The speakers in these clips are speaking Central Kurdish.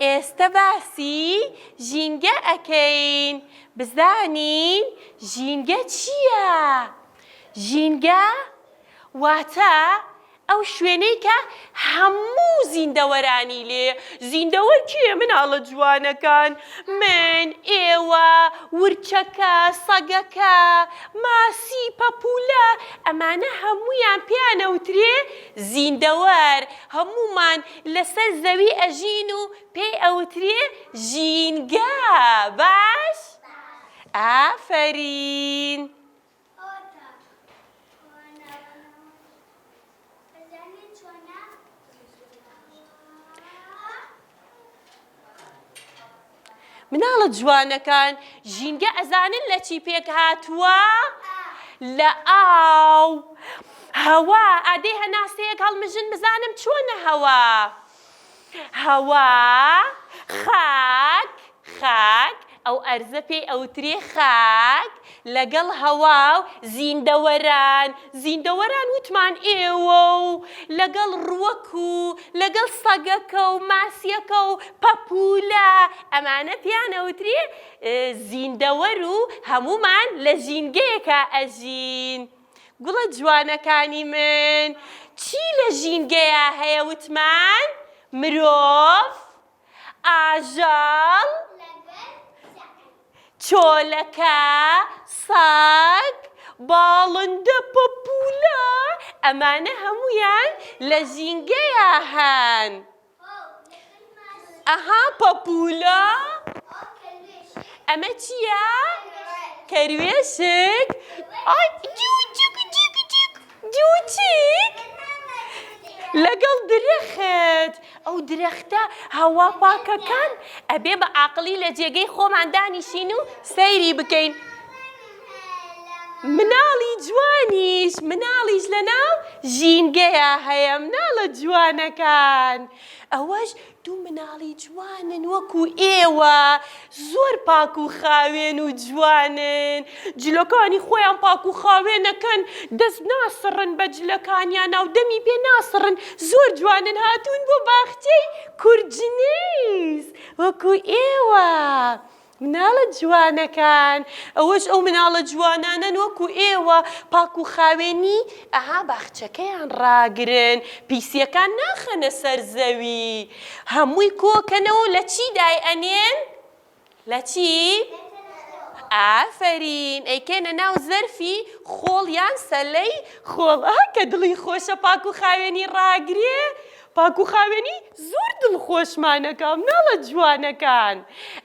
ئێستە باسی ژینگە ئەکەین بزانین ژینگە چیە ژینگە واتە ئەو شوێنەی کە هەموو زیندەوەرانی لێ زیندەوەر کێ مناڵە جوانەکان من ئێوە ورچەکە سەگەکە ماسی پەپولە ئەمانە هەموویان پێیان ئەوترێ زیندەوەر هەموومان لەسەر زەوی ئەژین و پێی ئەوترێ ژینگە باش؟ ئافەرین. مناڵە جوانەکان ژینگە ئەزانن لە چی پێک هاتووە؟ لە ئاو هەوا ئادەی هەناسەیەک هەڵمژن بزانم چۆنە هەوا هەوا خاک خاک ئەو ئەرزە پێی ئەوترێ خاک، لەگەڵ هەوا و زیندەوەران، زیندەوەران وتمان ئێوە و لەگەڵ ڕووەک و لەگەڵ سەگەکە و ماسییەکە و پەپوولە، ئەمانە پێیان ئەوترێ زیندەوەر و هەموومان لە ژینگەیەکا ئەژین. گوڵە جوانەکانی من، چی لە ژینگەیا هەیە وتمان مرۆڤ؟ ئاژەڵ چۆلەکە سەگ باڵندە پەپولە ئەمانە هەمویان لە ژینگەیە هەن ئەها پەپولە ئەمە چییە؟ کەروێشک ئای جوو جوو جووتیک لەگەڵ درەخت ئەو درەختە هەوا پاکەکان ئەبێ بە ئاقڵی لە جێگەی خۆمان دانیشین و سەیری بکەین مناڵی جوانیش مناڵیش لە ناو ژینگەیە هەیە مناڵە جوانەکان ئەوەش دوو مناڵی جوانن وەکو ئێوە زۆر پاک و خاوێن و جوانن جلەکانی خۆیان پاک و خاوێنەکەن دەست ناسڕن بە جلەکانیانا و دەمی پێ ناسڕن زۆر جوانن هاتوون بۆ باخچەی کورجنیس وەکو ئێوە مناڵە جوانەکان ئەوەش ئەو مناڵە جوانانەن وەکو ئێوە پاک و خاوێنی ئەها باخچەکەیان ڕاگرن پیسیەکان ناخەنە سەر زەوی هەمووی کۆکەنەوە لە چی دای ئەنێن لە چی ئافەرین ئەیکەنە ناو زەرفی خۆڵ یان سەلەی خۆڵ ئا کە دڵی خۆشە پاک و خاوێنی ڕاگرێ پاک و خاوێنی زۆر دڵخۆشمانەکا مناڵە جوانەکان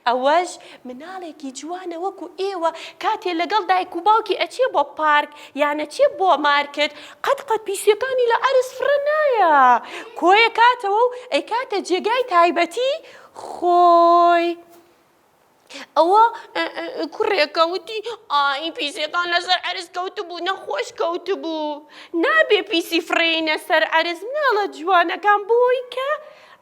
ئەوەش مناڵێکی جوانە وەکو ئێوە کاتێ لەگەڵ دایک و باوکی ئەچێ بۆ پارک یان ئەچێ بۆ مارکت قەت قەت پیسیەکانی لە عەرز فڕە نایە کۆیەکاتەوە و ئەیکاتە جێگای تایبەتی خۆی. ئەوە کوڕێکە وتی ئای پیسەکان لەسەر عەرز کەوتبوو نەخۆش کەوتبوو نابێ پیسی فڕێینە سەر عەرز مناڵە جوانەکان بۆی کە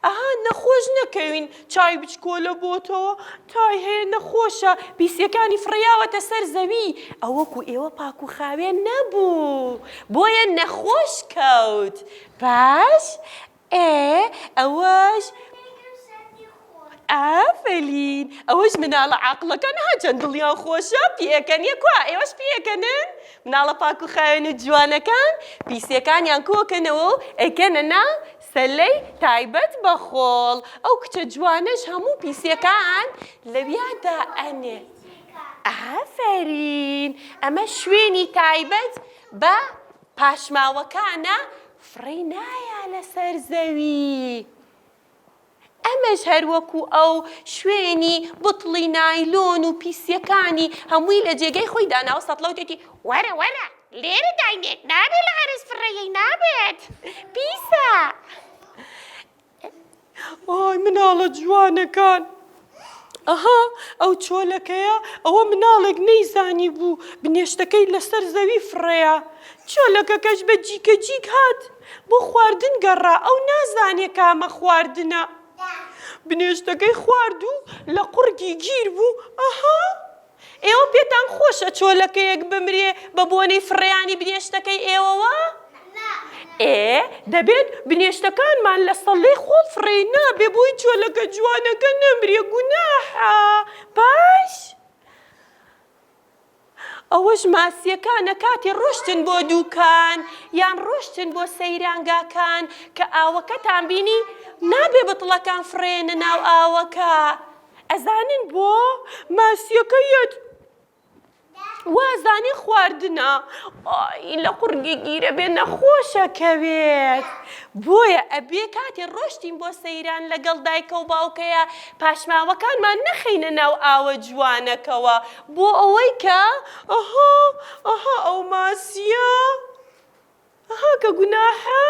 ئەها نەخۆش نەکەوین چای بچکۆلە بۆتەوە تای هەیە نەخۆشە پیسیەکانی فڕیاوەتە سەر زەوی ئەوەکو ئێوە پاک و خاوێن نەبوو بۆیە نەخۆش کەوت باش ئێ ئەوەش ئافەرین ئەوەش مناڵە عاقڵەکان ها چەند دڵیان خۆشە پێکەنیە کوا ئێوەش پێکەنن مناڵە پاک و خاوێن و جوانەکان پیسیەکانیان کۆکەنەوە و ئەیکەنە ناو سەلەی تایبەت بە خۆڵ ئەو کچە جوانەش هەموو پیسیەکان لەویا دا ئەنێ ئافەرین ئەمە شوێنی تایبەت بە پاشماوەکانە فڕێی نایا لەسەر زەوی. ئەمەش هەر وەکو ئەو شوێنی بتڵی نایلۆن و پیسیەکانی هەمووی لە جێگەی خۆی داناوە سەتڵە وتێتی وەرە وەرە لێرە داینێ نابێ لە عەرز فڕێی نابێت پیسە. ئای مناڵە جوانەکان ئەها ئەو چۆلەکەیە ئەوە مناڵێک نەیزانی بوو بنێشتەکەی لەسەر زەوی فڕەیە چۆلەکەکەش بە جیکە جیک هات بۆ خواردن گەڕا ئەو نازانێ کامە خواردنە بنێشتەکەی خوارد و لە قڕگی گیر بوو ئەها ئێوە پێتان خۆشە چۆلەکەیەک بمرێ بە بۆنەی فڕێیانی بنێشتەکەی ئێوەوە؟ ئێ دەبێت بنێشتەکانمان لە سەڵلەی خۆڵ فڕێی نابێ بۆی چۆلەکە جوانەکە نەمرێ گوناحە پاش ئەوەش ماسییەکانە کاتی ڕۆشتن بۆ دووکان یان ڕۆشتن بۆ سەیرانگاکان کە ئاوەکەتان بینی نابێ بتڵەکان فڕێنە ناو ئاوەکە ئەزانن بۆ ماسیەکە یەت وازانی خواردنە ئای لە قوڕگی گیرە بێ نەخۆشەکەوێت بۆیە ئەبێ کاتێ ڕۆشتین بۆ سەیران لەگەڵ دایکە و باوکەیە پاشماوەکانمان نەخەینە ناو ئاوە جوانەکەوە بۆ ئەوەی کە ئەها ئەها ئەو ماسیە ئەها کە گوناحە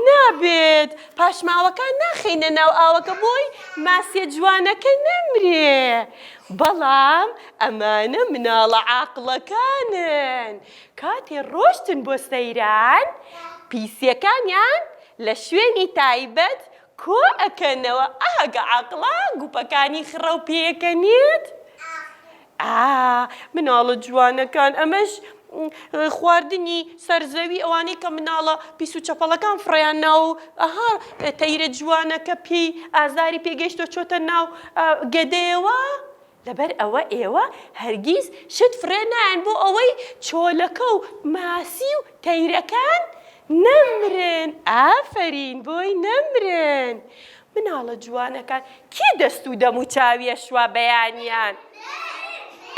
نابێت پاشماوەکان ناخەینە ناو ئاوەکە بۆی ماسیە جوانەکە نەمرێ بەڵام ئەمانە مناڵە عاقڵەکانن کاتێ ڕۆشتن بۆ سەیران پیسیەکانیان لە شوێنی تایبەت کۆ ئەکەنەوە ئەهگە عاقڵە گوپەکانی خڕەو پێکەنێت ئا مناڵە جوانەکان ئەمەش خواردنی سەرزەوی ئەوانەی کە مناڵە پیس و چەپەڵەکان فڕیان ناو ئەها تەیرە جوانەکە پێی ئازاری پێگەشتۆ چۆتە ناو گەدەیەوە لەبەر ئەوە ئێوە هەرگیز شت فڕێ نایەن بۆ ئەوەی چۆلەکە و ماسی و تەیرەکان نەمرن ئافەرین بۆی نەمرن مناڵە جوانەکان کێ دەست و دەم و چاوی ئەشوا بەیانیان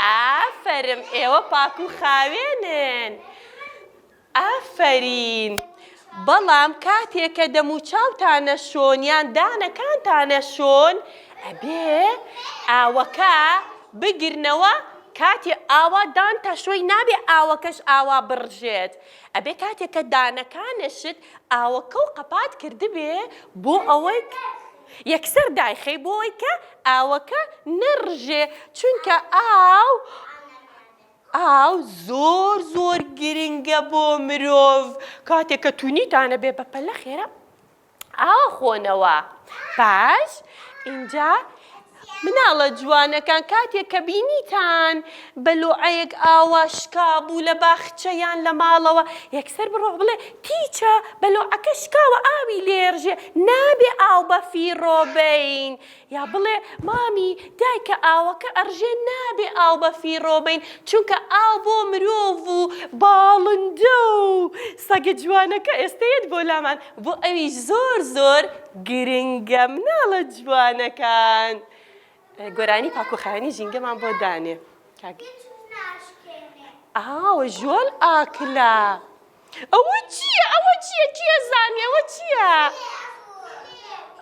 ئافەرم ئێوە پاک و خاوێنن ئافەرین بەڵام کاتێک کە دەم و چاوتانە شۆن یان دانەکانتانە شۆن ئەبێ ئاوەکە بگرنەوە کاتی ئاوا دانتە شوی نابێ ئاوەکەش ئاوا بڕژێت ئەبێ کاتێککە دانەکانشت ئاوەکە و قەپات کردبێ بۆ ئەوەی کە یەکسەر دایخەی بۆ ئەوەی کە ئاوەکە نەڕژێ چونکە ئاو ئاو زۆر زۆر گرنگە بۆ مرۆڤ کاتێک کە تونیتانە بێ بەپەلە خێرا ئاوە خۆنەوە پاش اینجا مناڵە جوانەکان کاتێک کە بینیتان بە لۆعەیەک ئاوا شکابوو لە باخچە یان لە ماڵەوە یەکسەر بڕۆ بڵێ تیچە بە لۆعەکە شکاوە ئاوی لێرژێ نابێ ئاو بەفیڕۆ بەین یا بڵێ مامی دایکە ئاوەکە ئەڕژێ نابێ ئاو بەفیڕۆ بەین چونکە ئاو بۆ مرۆڤ و باڵندە و سەگە جوانەکە ئێستە یەت بۆ لامان بۆ ئەویش زۆر زۆر گرنگە مناڵە جوانەکان گۆرانی پاکو خاوێنی ژینگەمان بۆ دانێ کاک ئاوە ژۆل ئاکلا ئەوە چییە ئەوە چییە کێ زانێ ئەوە چییە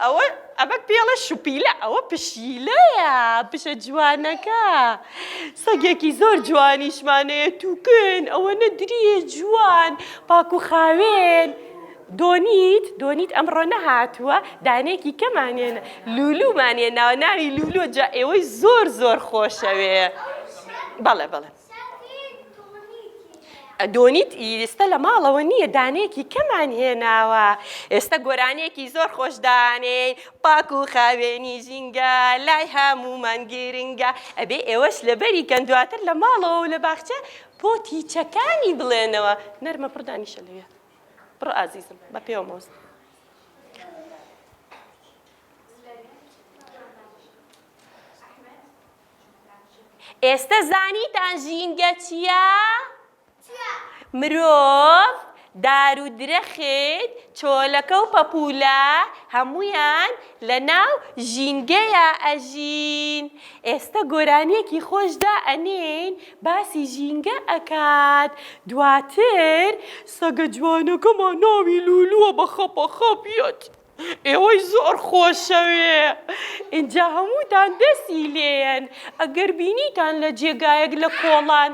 ئەوە ئەمە پێڵە شوپیلە ئەوە پشیلەیە پشە جوانەکە سەگێکی زۆر جوانیشمانەیە تووکن ئەوەنە دریێ جوان پاکو خاوێن. دۆنیت دۆنیت ئەمڕۆ نەهاتووە دانێکی کەمان هێنا لولومان هێناوە ناوی لولو جا ئێوەی زۆر زۆر خۆشەوێ بەڵێ بەڵێ دۆنیت ئیستا لە ماڵەوە نییە دانێکی کەمان هێناوە ئێستا گۆرانێکی زۆر خۆشدانێ پاک و خاوێنی ژینگە لای هەمومان گرنگە ئەبێ ئێوەش لەبەری کەن دواتر لە ماڵەوە و لە باخچە پۆتی چەکانی بڵێنەوە نەرمە پڕدانیشە لەوێ بڕۆ ئازیزم بە پێوە مۆز ئێستا زانیتان ژینگە چییە؟ مرۆڤ دار و درەخت چۆلەکە و پەپولە هەمویان لە ناو ژینگەیە ئەژین ئێستا گۆرانیەکی خۆشدا ئەنین باسی ژینگە ئەکات دواتر سەگە جوانەکەمان ناوی لولوە بە خەپە خەپ یەت ئێوەی زۆر خۆشەوێ ئینجا هەمووتان دەسی لێیەن ئەگەر بینیتان لە جێگایەک لە کۆڵان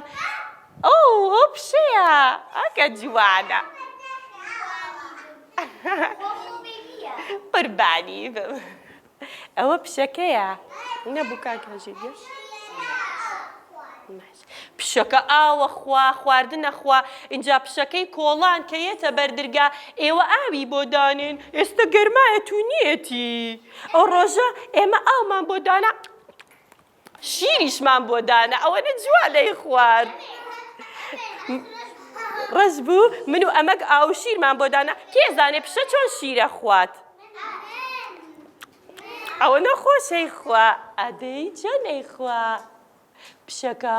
ئەو ئەو پشەیە ئەکە جوانە قوربانی بم. ئەوە پشەکەیە نەبوو کاکە ژیر پشەکە ئاوە خوا خواردنە خوا اینجا پشەکەی کۆڵان کە یەتە بەردرگا ئێوە ئاوی بۆ دانێن ئێستا گەرمایە تو نیەتی ئەو ڕۆژە ئێمە ئاومان بۆ دانا شیریشمان بۆ دانا ئەوەنە جوان دەیخوارد ڕەش بوو من و ئەمەک ئاو شیرمان بۆ دانا کێزانێ پیشە چۆن شیرە خوات ئەوە نەخۆشەی خوا ئەدەی چەندەی خوا پیشەکە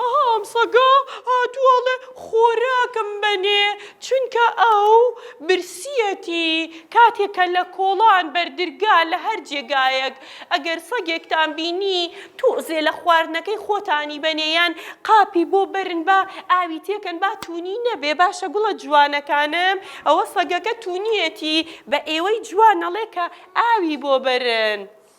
ئەها ئەم سەگە هاتووە ئەڵێ خۆراکم بەنێ چونکە ئەو برسیەتی کاتێک کە لە کۆڵان بەردرگا لە هەر جێگایەک ئەگەر سەگێکتان بینی تۆزێ لە خواردنەکەی خۆتانی بەنێ یان قاپی بۆ بەرن با ئاوی تێکەن با توونی نەبێ باشە گوڵە جوانەکانم ئەوە سەگەکە توونیەتی بە ئێوەی جوان ئەڵێ کە ئاوی بۆ بەرن.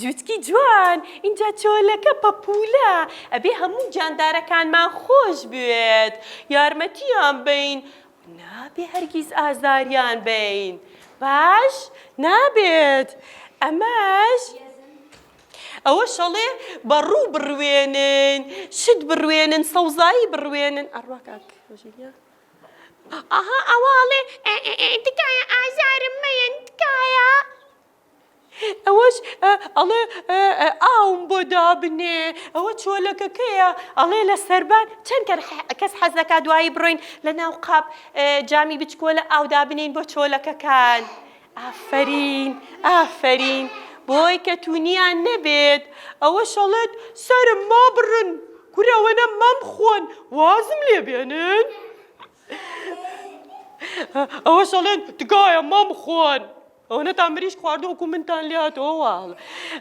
جوتکی جوان ئینجا چۆلەکە پەپولە ئەبێ هەموو جاندارەکانمان خۆش بوێت یارمەتیان بەین نابێ هەرگیز ئازاریان بەین باش نابێت ئەمەش ئەوە شەڵێ بە ڕوو بڕوێنن شت بڕوێنن سەوزایی بڕوێنن ئەڕوا کاک ژیریا ئەها ئەوە ئەڵێ تکایە ئازارم مەیەن تکایە ئەوەش ئەڵێ ئاوم بۆ دابنێ ئەوە چۆلەکەکەیە ئەڵێ لە سەربان چەند کەس حەز دەکا دوایی بڕۆین لە ناو قاپ جامی بچکۆلە ئاو دابنین بۆ چۆلەکەکان ئافەرین ئافەرین بۆی کە تونیان نەبێت ئەوە شەڵێت سرم ما بڕن کورەوەنە مەم خۆن وازم لێ بێنن ئەوە شەڵێن تکایە مەم خۆن ئەوە نەتان مریشک خواردو وەکو منتان لێ هاتەوە واڵ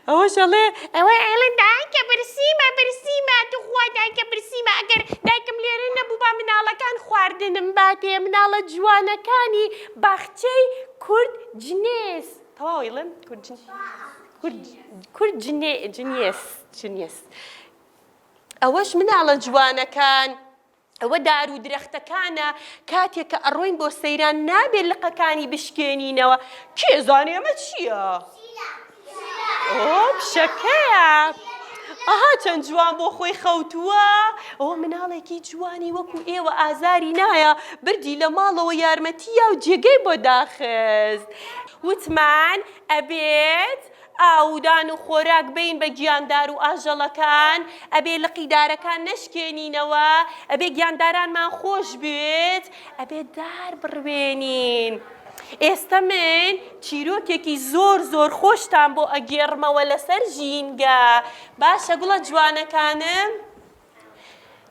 ئەوەش ئەڵێ ئەوە ئەڵێن دایکە برسیمە برسیمە توخوا دایکە برسیمە ئەگەر دایکم لێرە نەبووبا مناڵەکان خواردنم باتێ مناڵە جوانەکانی باخچەی کورد جنێس تەواو ئەیڵێم کورد جنێس کورد کورد جنێ جنێس جنێس ئەوەش مناڵە جوانەکان ئەوە دارو درەختەکانە کاتێک کە ئەڕۆین بۆ سەیران نابێت لقەکانی بشکێنینەوە کێ زانێ ئەمە چییە؟ ئۆ پیشەکەیە ئەها چەند جوان بۆ خۆی خەوتووە ئەوە مناڵێکی جوانی وەکو ئێوە ئازاری نایە بردی لە ماڵەوە یارمەتی یا و جێگەی بۆ داخست وتمان ئەبێت ئاودان و خۆراک بەین بە گیاندار و ئاژەڵەکان، ئەبێ لقی دارەکان نەشکێنینەوە، ئەبێ گیاندارانمان خۆش بوێت، ئەبێ دار بڕوێنین. ئێستە من چیرۆکێکی زۆر زۆر خۆشتان بۆ ئەگێڕمەوە لەسەر ژینگە، باشە گوڵە جوانەکانم؟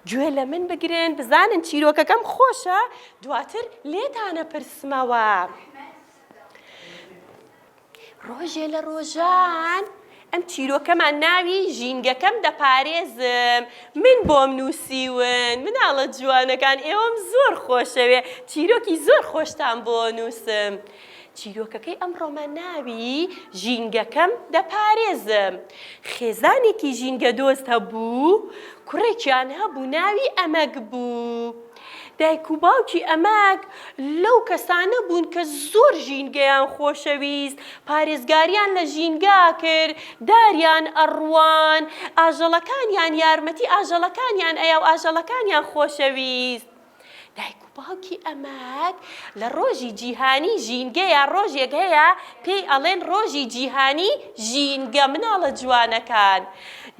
گوێ لە من بگرن بزانن چیرۆکەکەم خۆشە، دواتر لێتان ئەپرسمەوە. ڕۆژێ لە ڕۆژان ئەم چیرۆکەمان ناوی ژینگەکەم دەپارێزم من بۆم نووسیون مناڵە جوانەکان ئێوەم زۆر خۆشەوێ چیرۆکی زۆر خۆشتان بۆ نووسم چیرۆکەکەی ئەم ڕۆمان ناوی ژینگەکەم دەپارێزم خێزانێکی ژینگە دۆست هەبوو کوڕێکیان هەبوو ناوی ئەمەک بوو. دایک و باوکی ئەمەک لەو کەسانە بوون کە زۆر ژینگەیان خۆشەویست، پارێزگاریان لە ژینگە ئەکرد، داریان ئەڕوان، ئاژەڵەکانیان یارمەتی ئاژەڵەکانیان ئەیا و ئاژەڵەکانیان خۆشەویست. دایک و باوکی ئەمەک لە ڕۆژی جیهانی ژینگەیە ڕۆژێک هەیە پێی ئەڵێن ڕۆژی جیهانی ژینگە مناڵە جوانەکان.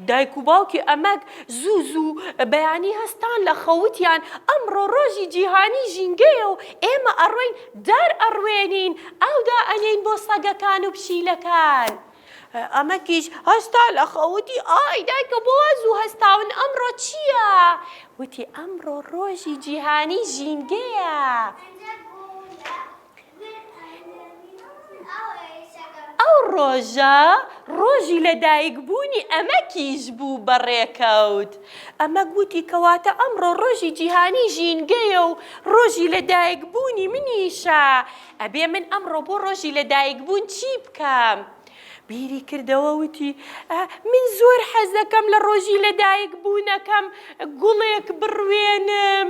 دایک و باوکی ئەمەک زوو زوو بەیانی هەستان لە خەو وتیان ئەمڕۆ ڕۆژی جیهانی ژینگەیە و ئێمە ئەڕۆین دار ئەڕوێنین ئاو دائەنێین بۆ سەگەکان و پشیلەکان. ئەمەکیش هەستا لە خەو وتی ئای دایکە بۆ وا زوو هەستاون ئەمڕۆ چییە؟ وتی ئەمڕۆ ڕۆژی جیهانی ژینگەیە. ئەو ڕۆژە ڕۆژی لەدایکبوونی ئەمەکیش بوو بە ڕێکەوت. ئەمەک وتی کەواتە ئەمڕۆ ڕۆژی جیهانی ژینگەیە و ڕۆژی لەدایکبوونی منیشە، ئەبێ من ئەمڕۆ بۆ ڕۆژی لەدایکبوون چی بکەم؟ بیری کردەوە وتی ئا من زۆر حەزدەکەم لە ڕۆژی لەدایکبوونەکەم گوڵێک بڕوێنم.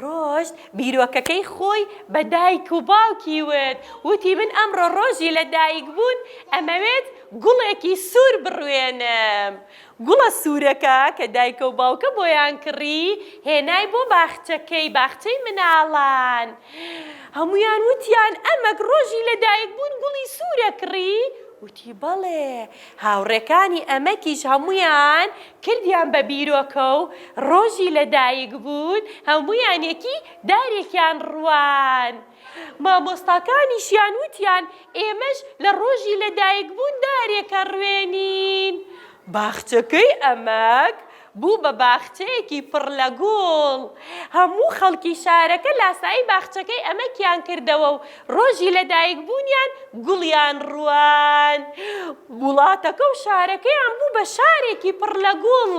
ڕۆشت، بیرۆکەکەی خۆی بە دایک و باوکی وت، وتی من ئەمڕۆ ڕۆژی لەدایکبوون، ئەمەوێت گوڵێکی سوور بڕوێنم. گوڵە سوورەکە کە دایکە و باوکە بۆیان کڕی، هێنای بۆ باخچەکەی، باخچەی مناڵان. هەموویان وتیان ئەمەک ڕۆژی لەدایکبوون گوڵی سوورە کڕی؟ وتی بەڵێ. هاوڕێکانی ئەمەکیش هەموویان کردیان بە بیرۆکە و ڕۆژی لە دایک بوون هەموویان یەکی دارێکیان ڕوان مامۆستاکانیشیان وتیان ئێمەش لە ڕۆژی لە دایک بوون دارێک ئەڕوێنین باخچەکەی ئەمەک بوو بە باخچەیەکی پڕ لە گوڵ هەموو خەڵکی شارەکە لاسایی باخچەکەی ئەمەکیان کردەوە و ڕۆژی لەدایکبوونیان گوڵیان ڕوان. وڵاتەکە و شارەکەیان بوو بە شارێکی پڕ لە گوڵ.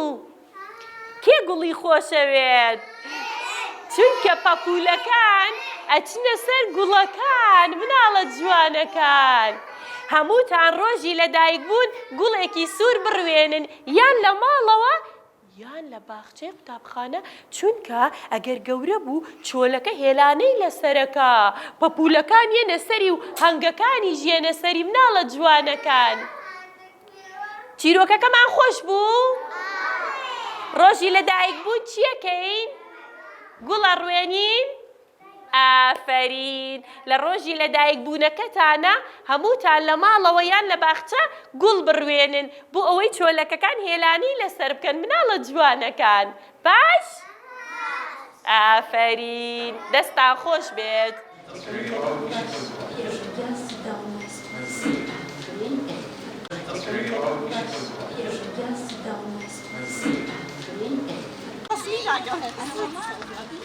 کێ گوڵی خۆشەوێت؟ چونکە پەپوولەکان ئەچنە سەر گوڵەکان، مناڵە جوانەکان. هەمووتان ڕۆژی لەدایکبوون گوڵێکی سوور بڕوێنن یان لە ماڵەوە، یان لە باخچەی قوتابخانە چونکە ئەگەر گەورە بوو چۆلەکە هێلانەی لەسەرەکا پەپولەکان یەنە سەری و هەنگەکانیش یەنە سەری مناڵە جوانەکان چیرۆکەکەمان خۆش بوو ڕۆژی لەدایک بوون چیەکەین گوڵە ڕوێنین ئافەرین لە ڕۆژی لەدایک بوونەکەتانا هەمووتان لە ماڵەوە یان لە باخچە گوڵ بڕوێنن بۆ ئەوەی چۆلەکەکان هێلانەی لەسەر بکەن مناڵە جوانەکان باش ئافەرین دەستان خۆش بێت.